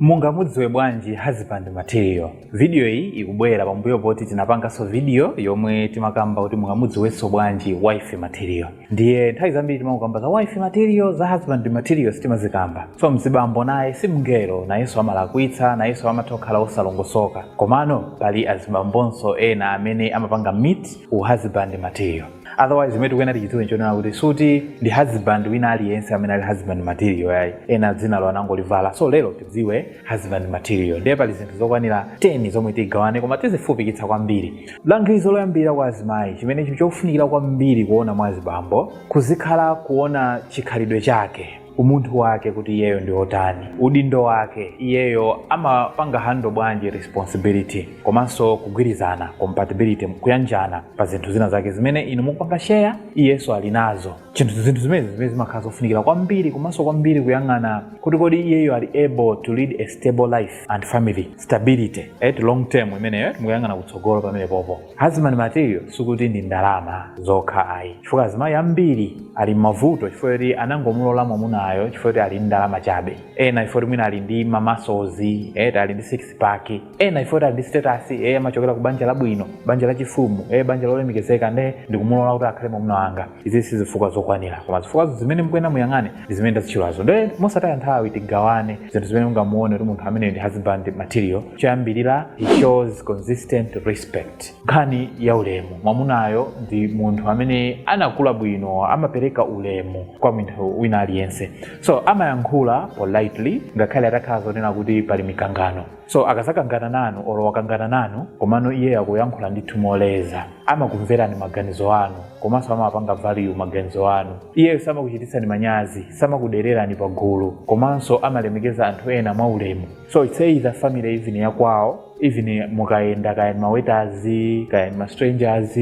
Mungamudziwe bwanji husband material? Video iyi ikubwera pambuyo poti tinapanganso video yomwe timakamba kuti mungamudziwenso bwanji wifey material. Ndiye nthawi zambiri timangokamba za wifey material, za husband material sitimazikamba. So mzibambo naye si mngelo, nayenso amalakwitsa, nayenso amatha kukhala wosalongosoka. Komano pali azibambonso ena amene amapanga meet u husband material. otherwise imene tikuyenera tichidziwe nchonena kuti sikuti ndi husband wina aliyense amene ali husband material yayi ena dzinalo anangolivala so lero tidziwe husband material ndiye pali zinthu zokwanira 10 zomwe tigawane koma tizifupikitsa kwambiri langizo loyambira kwa azimayi chimene chili chofunikira kwambiri kuona mwa azibambo kuzikhala kuona chikhalidwe chake umunthu wake kuti iyeyo ndi otani udindo wake iyeyo amapanga handle bwanji responsibility komanso kugwirizana compatibility kuyanjana pa zinthu zina zake zimene inu mukupanga share iyenso ali nazo chinthu zinthu zimezi zimene zimakhala zofunikira kwambiri komanso kwambiri kuyang'ana kuti kodi iyeyo ali able to lead a stable life and family stability at long term imeneyo mukuyang'ana kutsogolo pamenepopo Husband material sikuti ndi ndalama zokha ayi, chifukwa azimayi ambiri ali m'mavuto chifukwa choti anangomulola mwamunayo chifukwa choti ali ndi ndalama chabe, ena chifukwa choti mwina ali ndi ma muscles eti ali ndi six pack, ena chifukwa choti ali ndi status eh, amachokera ku banja labwino, banja lachifumu eh, banja lolemekezeka nde ndikumulola kuti akhale mwamuna wanga. izi si zifukwa zokwanira koma zifukwa zimene mukuyenera muyang'ane ndi zimene ndazitchulazo nde mosataya nthawi tigawane zinthu zimene mungamuone kuti munthu ameneyu ndi husband material choyambirira he shows consistent respect nkhani ya ulemu mwamunayo ndi munthu amene anakula bwino amapereka ulemu kwa munthu wina aliyense so amayankhula politely ngakhale atakhala zonena kuti pali mikangano so akazakangana nanu olo wakangana nanu komano iye akuyankhula ndithu moleza amakumverani maganizo anu komanso amapanga value maganizo anu iyeyo samakuchititsani manyazi samakudererani pa gulu komanso amalemekeza anthu ena mwa ulemu so it's either family even yakwawo even mukayenda kaya ni ma waiters kaya ni ma strangers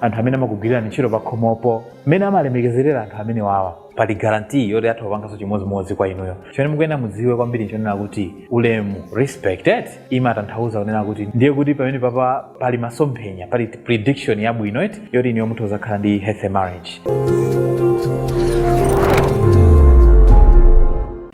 anthu amene amakugwirirani ntchito pakhomopo mmene amalemekezerera anthu amenewawa pali guarantee yoti atha kupanganso chimodzimodzi kwa inuyo chimene mukuyenera mudziwe kwambiri nchonena kuti ulemu respect imatanthauza kunena kuti ndiye kuti pamenepapa pali masomphenya pali prediction yabwino eti yoti inuyo mutha kuzakhala ndi healthy marriage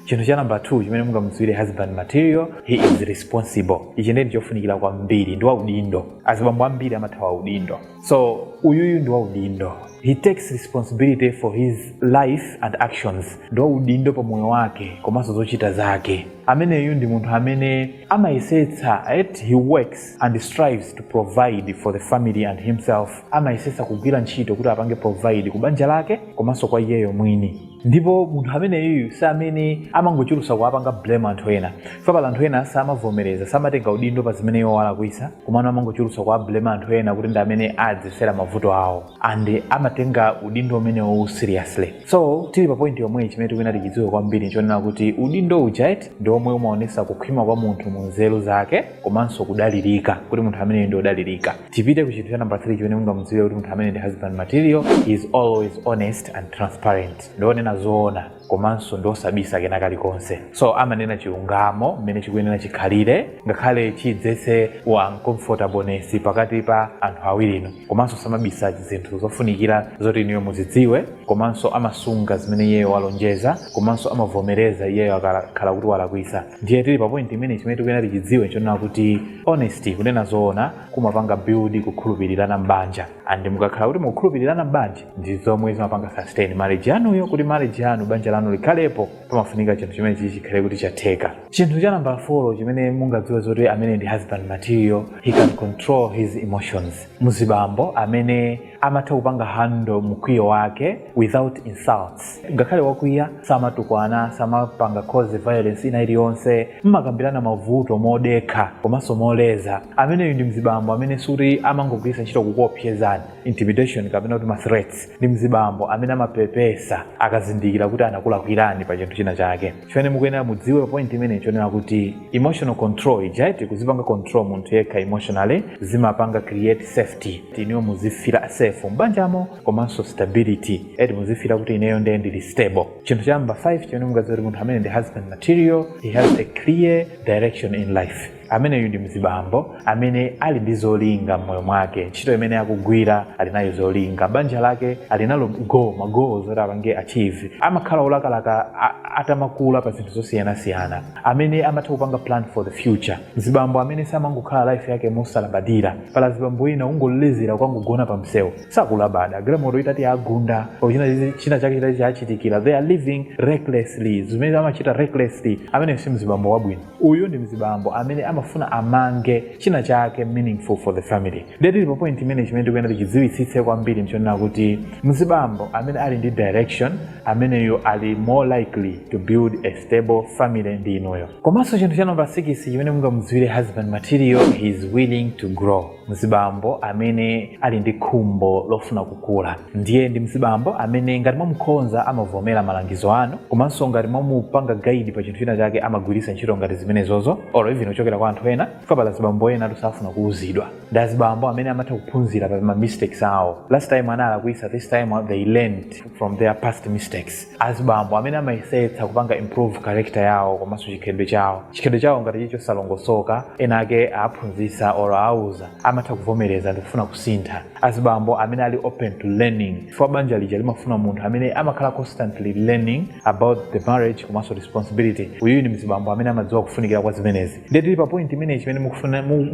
chinthu cha namba 2 chimene mungamudziwire husband material he is responsible ichi ndiye ndichofunikira kwambiri ndi waudindo azibambo ambiri amathawa udindo so uyuyu ndi waudindo he takes responsibility for his life and actions ndi waudindo pa moyo wake komanso zochita zake ameneyu ndi munthu amene amayesetsa eti he works and strives to provide for the family and himself amayesetsa kugwira ntchito kuti apange provide ku banja lake komanso kwa iyeyo mwini ndipo munthu ameneyu si amene amangochulusa kuwapanga blame anthu ena chifukwa pali anthu ena samavomereza samatenga udindo pa zimene iwo alakwisa komano amangochulusa kuwa blame anthu ena kuti ndi amene adzetsera mavuto awo and samatenga udindo umenewo seriously so tili pa point yomweyi chimene tikuyenera tichidziwe kwambiri ndi chonena kuti udindo uja eti ndi omwe umaonesa kukhwima kwa munthu mu nzeru zake komanso kudalirika kuti munthu ameneyo ndi odalirika tipite ku chinthu cha namba 3 chimene mungamudziwire kuti munthu amene ndi husband material he is always honest and transparent ndionena zoona komanso ndiosabisa kena kalikonse so amanena chilungamo mmene chikuyenera chikhalire ngakhale chidzetse uncomfortableness pakati pa anthu awirinu komanso samabisa zinthu zofunikira zoti inuyo muzidziwe komanso amasunga zimene iyeyo walonjeza komanso amavomereza iyeyo akakhala kuti walakwisa ndiye tili pa point imene chimene tikuyenera tichidziwe nchonena kuti Honesty, kunena zoona, kumapanga build kukhulupirirana m'banja and mukakhala kuti mukukhulupirirana m'banja ndi zomwe zimapanga sustain marriage yanuyo kuti marriage yanu banja lanu likhalepo pamafunika chinthu chimenechichi chikhale kuti chatheka chinthu cha nambala 4 chimene mungadziwe zoti amene ndi husband material he can control his emotions mzibambo amene amatha kupanga handle mkwiyo wake without insults ngakhale wakwiya samatukwana samapanga cause violence ina iliyonse amakambirana mavuto modekha komanso moleza ameneyu ndi mzibambo amene sikuti amangogwiritsa ntchito kukuopsezani intimidation kapena kuti ma threats ndi mzibambo amene amapepesa akazindikira kuti anakulakwirani pa chinthu china chake chimene mukuyenera mudziwe pa point imene nchonena kuti emotional control ija eti kuzipanga control munthu yekha emotionally zimapanga create safety inuyo muzifira safe m'banjamo komanso stability eti muzifira kuti ineyo ndiye ndili stable chinthu cha namba 5 chimene mungadziwe kuti munthu amene ndi husband material he has a clear direction in life ameneyu ndi mzibambo amene ali ndi zolinga m'moyo mwake ntchito imene akugwira ali nayo zolinga banja lake ali nalo magoals oti apange achieve amakhala olakalaka atamakula pa zinthu zosiyanasiyana amene amatha kupanga plan for the future mzibambo amene samangokhala life yake mosalabadira pali azibambo ena ongoledzera kukangogona pa msewu sakulabada galimoto itati yawagunda china, china chake chitati chachitikira they are living recklessly zimene amachita recklessly amene si mzibambo wabwino uyu ndi mzibambo amene amafuna amange china chake meaningful for the family ndiye tili pa point imene chimene tikuyenera tichidziwitsitse kwambiri ndi chonena kuti mzibambo amene ali ndi direction ameneyu ali more likely to build a stable family ndi inuyo komanso chinthu cha namba 6 chimene mungamudziwire husband material he is willing to grow mzibambo amene ali ndi khumbo lofuna kukula ndiye ndi mzibambo amene ngati mwamukhonza amavomera malangizo anu komanso ngati mwamupanga guide pa chinthu china chake amagwiritsa ntchito ngati zimenezozo or even kuchokera kwa anthu ena chifukwa pali azibambo enatu safuna kuuzidwa ndi azibambo amene amatha kuphunzira pa ma mistakes awo last time analakwisa this time they learned from their past mistakes azibambo amene amayesetsa kupanga improve character yawo komanso chikhalidwe chawo chikhalidwe chawo ngati chili chosalongosoka ena ake awaphunzitsa or awauza amatha kuvomereza ndikufuna kusintha azibambo amene ali open to learning chifukwa banja lija limafuna munthu amene amakhala constantly learning about the marriage komanso responsibility uyu ndi mzibambo amene amadziwa kufunikira kwa zimenezi ndiye tili pa point imeneyi chimene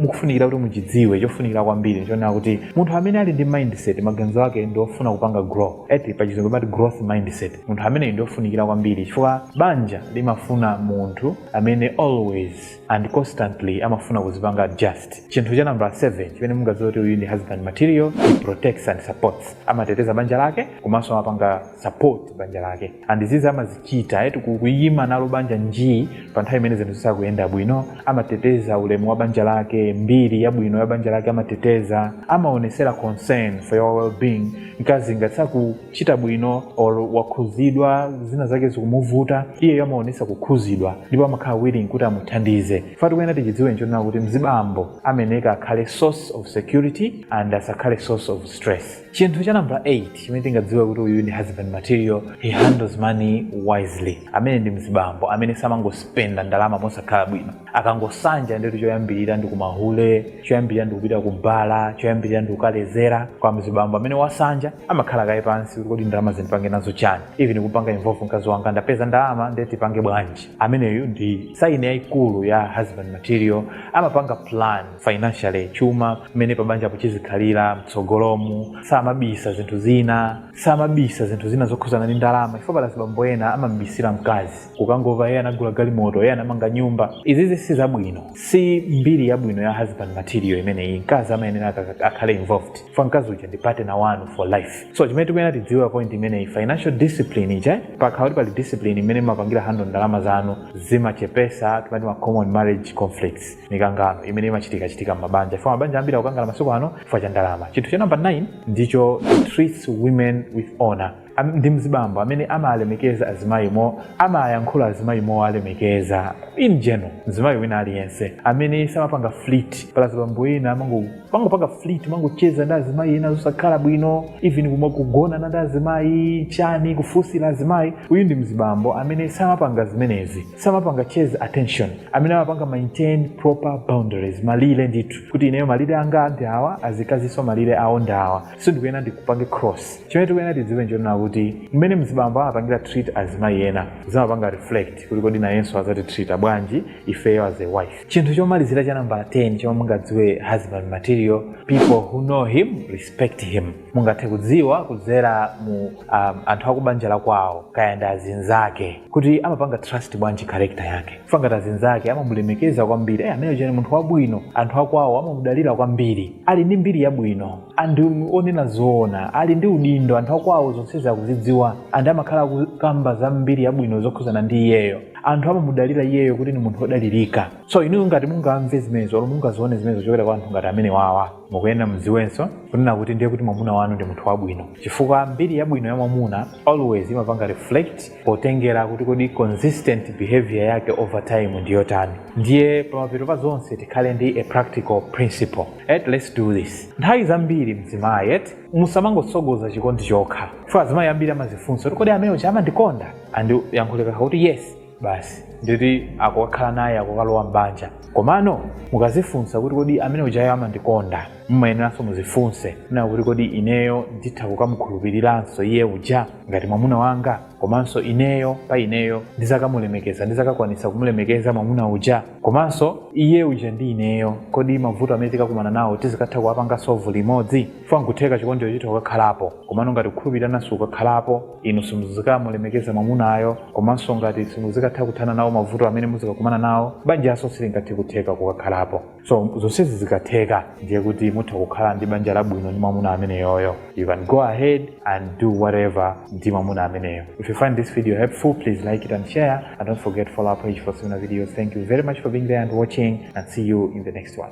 mukufunikira kuti muchidziwe chofunikira kwambiri nchonena kuti munthu amene ali ndi mindset maganizo ake ndi ofuna kupanga grow eti pa chizungu amati growth mindset munthu ameneyo ndi ofunikira kwambiri chifukwa banja limafuna munthu amene always and constantly amafuna kuzipanga adjust chinthu cha nambala 7 chimene mungadziwe kuti uyu ndi husband material he protects and supports amateteza banja lake komanso amapanga support banja lake and izizi amazichita eti ku- kuyima nalo banja njii pa nthawi imene zinthu zisakuyenda bwino amateteza ulemu wa banja lake mbiri yabwino ya banja lake amateteza amaonesera concern for your well-being mkazi ngati sakuchita bwino or wakhuzidwa zina zake zikumuvuta iyeyo amaonesa kukhuzidwa ndipo amakhala willing kuti amuthandize chomwe tikuyena tichidziwe nchonena kuti mzibambo amayeneka akhale source of security and asakhale source of stress chinthu cha nambala 8 chimene tingadziwe kuti uyu ndi husband material he handles money wisely ameneyu ndi mzibambo amene samangospenda ndalama mosakhala bwino akangosanja ndithu choyambirira ndi kumahule choyambirira ndi kupita kubala choyambirira ndi kukalezera koma mzibambo amene wasanja amakhala kaye pansi kuti kodi ndalamazi ndipange nazo chani even kumupanga involve mkazi wanga ndapeza ndalama ndiye tipange bwanji ameneyu ndi saini yayikulu ya husband material amapanga plan financially chuma mmene pabanjapo chidzakhalire mtsogolomu samabisa zinthu zina samabisa zinthu zina zokhuzana ndi ndalama chifukwa pali azibambo ena amamubisira mkazi kukangova iye anagula galimoto iye anamanga nyumba izizi si zabwino si mbiri yabwino ya husband material imeneyi mkazi amayenera aka- akhale involved chifukwa mkazi uja ndi partner wanu for life so chimene tikuyenera tidziwe pa point imeneyi financial discipline ija pakhala kuti pali discipline mmene mumapangira handle ndalama zanu zimachepesa timati ma common marriage conflicts mikangano imene imachitika chitika m'mabanja chifukwa mabanja ambiri akukangana masiku ano chifukwa cha ndalama chinthu cha namba 9 ndi choti he treats women with honor Am- ndi mzibambo amene amalemekeza azimayi amayankhula azimayi mowalemekeza in general mzimayi wina aliyense amene samapanga flirt pali azibambo ena amango- amangopanga flirt kumangocheza ndi azimayi ena zosakhala bwino even kumagonana ndi azimayi chani kufunsira azimayi uyu ndi mzibambo amene samapanga zimenezi samapanga chase attention amene amapanga maintain proper boundaries malire ndithu kuti ineyo malire anga ndi awa azikazinso malire awo ndi awa sindikuyena ndikupange cross chimene tikuyena tidziwe nchonena kuti mmene mzibambo amapangira treat azimayi ena zimapanga reflect kuti kodi nayenso azatitreata bwanji ifeyo as a wife chinthu chomalizira cha nambala 10 chomwe mungadziwe husband material people who know him respect him mungathe kudziwa kudzera mu um, anthu akubanja la kwawo kaya ndi azinzake kuti amapanga trust bwanji character yake kaya ngati azinzake amamulemekeza kwambiri eh, amene chani munthu wabwino anthu akwawo amamudalira kwambiri ali ndi mbiri yabwino ndi onena zoona ali ndi udindo anthu akwawo zonsezi akuzidziwa and amakhala akukamba za mbiri yabwino zokhuzana ndi iyeyo anthu amamudalira iyeyo kuti ni munthu wodalirika so inu ngati mungamve zimenezo olo mungazione zimenezo kuchokera kwa anthu ngati amene wawa mukuyenera muziwenso kunena kuti ndiye kuti mwamuna wanu ndi munthu wabwino chifukwa mbiri yabwino ya mwamuna always imapanga reflect potengera kuti kodi consistent behavior yake over time ndi yotani ndiye pamapeto pa zonse tikhale ndi a practical principle et let's do this nthawi zambiri mzimayi iwe musamangotsogoza chikondi chokha chifukwa azimayi ambiri amazifunsa kuti kodi amene uja amandikonda and yankho likakhala kuti yes basi ndithu akukakhala naye akukalowa m'banja komano mukazifunsa kuti kodi amene ujayo amandikonda mumayeneranso muzifunsenso kuti kodi ineyo nditha kukamukhulupiriranso iye uja ngati mwamuna wanga komanso ineyo pa ineyo ndizakamulemekeza ndizakakwanisa kumulemekeza mwamuna uja komanso iye uja ndi ineyo kodi mavuto amene tikakumana nawo tizikatha kuwapanga sovu limodzi chifukwa nkutheka chikondicho chitha kukakhalapo komano ngati kukhulupirirana sikukakhalapo inu simuzikamulemekeza mwamunayo komanso ngati simuzikatha kuthana nawo mavuto amene muzikakumana nawo banjanso silingathe kutheka kukakhalapo so zonsezi zikatheka ndiye kuti mutha kukhala ndi banja labwino ndi mwamuna ameneyoyo you can go ahead and do whatever ndi mwamuna ameneyo if you find this video helpful please like it and share and don't forget follow our page for similar videos thank you very much for being there and watching and see you in the next one